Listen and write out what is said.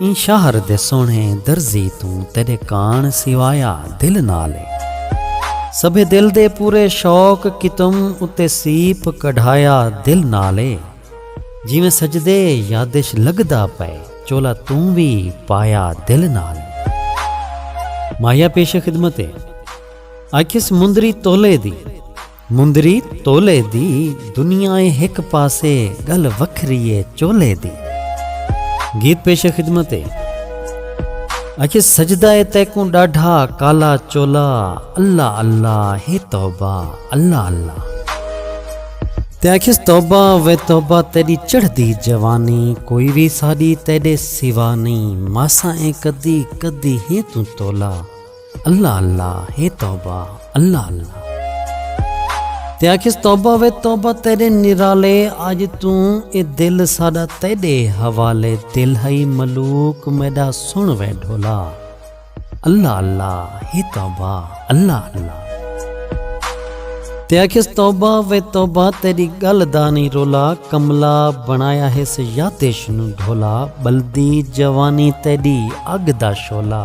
ایں شہر دے سوہݨے درزی توں تیݙے کاݨ سوایا دل نال اے سبھے دل دے پورے شوق کیتم اتے سیپ کڈھایا دل نال اے جیویں سجدے یادش لڳدا پئے چولا توں وی پایا دل نال اے ماہیا پیش خدمت اے آکھیس مندری تولے دی۔ مندری تولے دی دنیا اے ہک پاسے گل وکھری اے چولے دی۔ گیت پیش خدمت اے۔ اکھے سجدہ اے تیکوں ڈاڈھا کالا چولا اللہ اللہ ہے توبہ اللہ اللہ۔ تے اکھیس توبہ وے توبہ تیڈی چڑھدی جوانی کوئی وی ساڈی تیڈے سوا نئیں ماسا اے کدی کدی ہے توں تولا۔ اللہ اللہ ہے توبہ اللہ اللہ تے آکھیس توبہ وے توبہ تیرے نرالے اج توں اے دل ساڈا تیڈے حوالے دل ہئی ملوک میڈا سن وے ڈھولا اللہ اللہ ہے توبہ اللہ اللہ تے آکھیس توبہ وے توبہ تیری گل دانی رولا کملا بنایا ہے سیاتش نو ڈھولا بلدی جوانی تیڈی اگ دا شولا